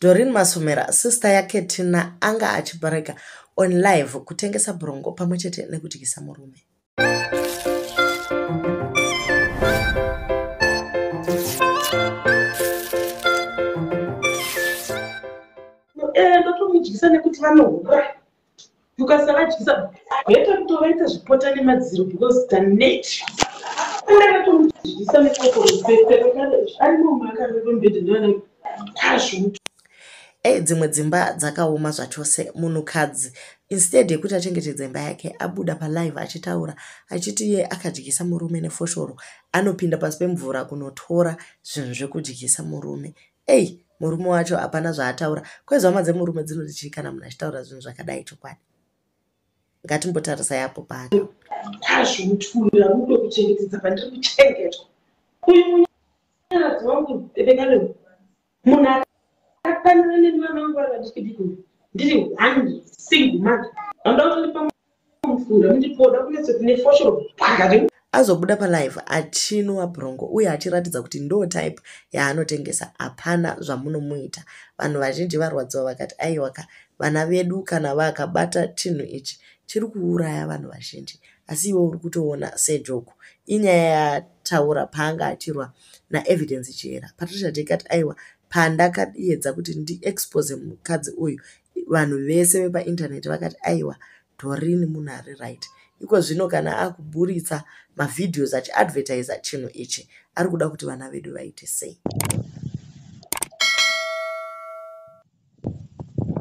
Doreen Masomera, sista yaKetina, anga achibarika on live kutengesa brongo pamwe chete nekudyisa murume. Eh, ndotomudyisa nekuti vanohura tukasavadyisa better kutovaita zvipota nemadziro because the nature kureva tomudyisa nekokoroseearimomakarerombedendana kazvutu e eh, dzimwe dzimba dzakaoma zvachose munhukadzi instead yekuti achengetedze imba yake abuda palive achitaura achiti iye akadyisa murume nefoshoro anopinda pasi pemvura kunotora zvinhu zvekudyisa murume Ey murume wacho hapana zvaataura kwezi hama dzemurume dzinoti chii kana munhu achitaura zvinhu zvakadai chokwadi ngatimbotarisai apo pano kwazvo mutikumbira rudo kuchengetedza pandiri kuchengetwa uyu munyaradzi wangu vekane munhu akafanira nemwana wangu ari vadikidiki ndiri one single mother vanoda kutondipa azobuda palive achinwa brongo uye achiratidza kuti ndo type yaanotengesa hapana zvamunomuita vanhu vazhinji varwadziwa vakati aiwaka vana vedu kana vakabata chinhu ichi chiri kuuraya vanhu vazhinji asi iwe uri kutoona sejoku inyaya yataura paanga achirwa naevidence chihera patricia dekat aiwa pandakayedza kuti ndiexpose mukadzi uyu vanhu vese vepaintaneti vakati aiwa dorini munhu ari right iko zvino kana akuburitsa mavideos achiadvertisa chinhu ichi ari kuda kuti vana vedu vaite sei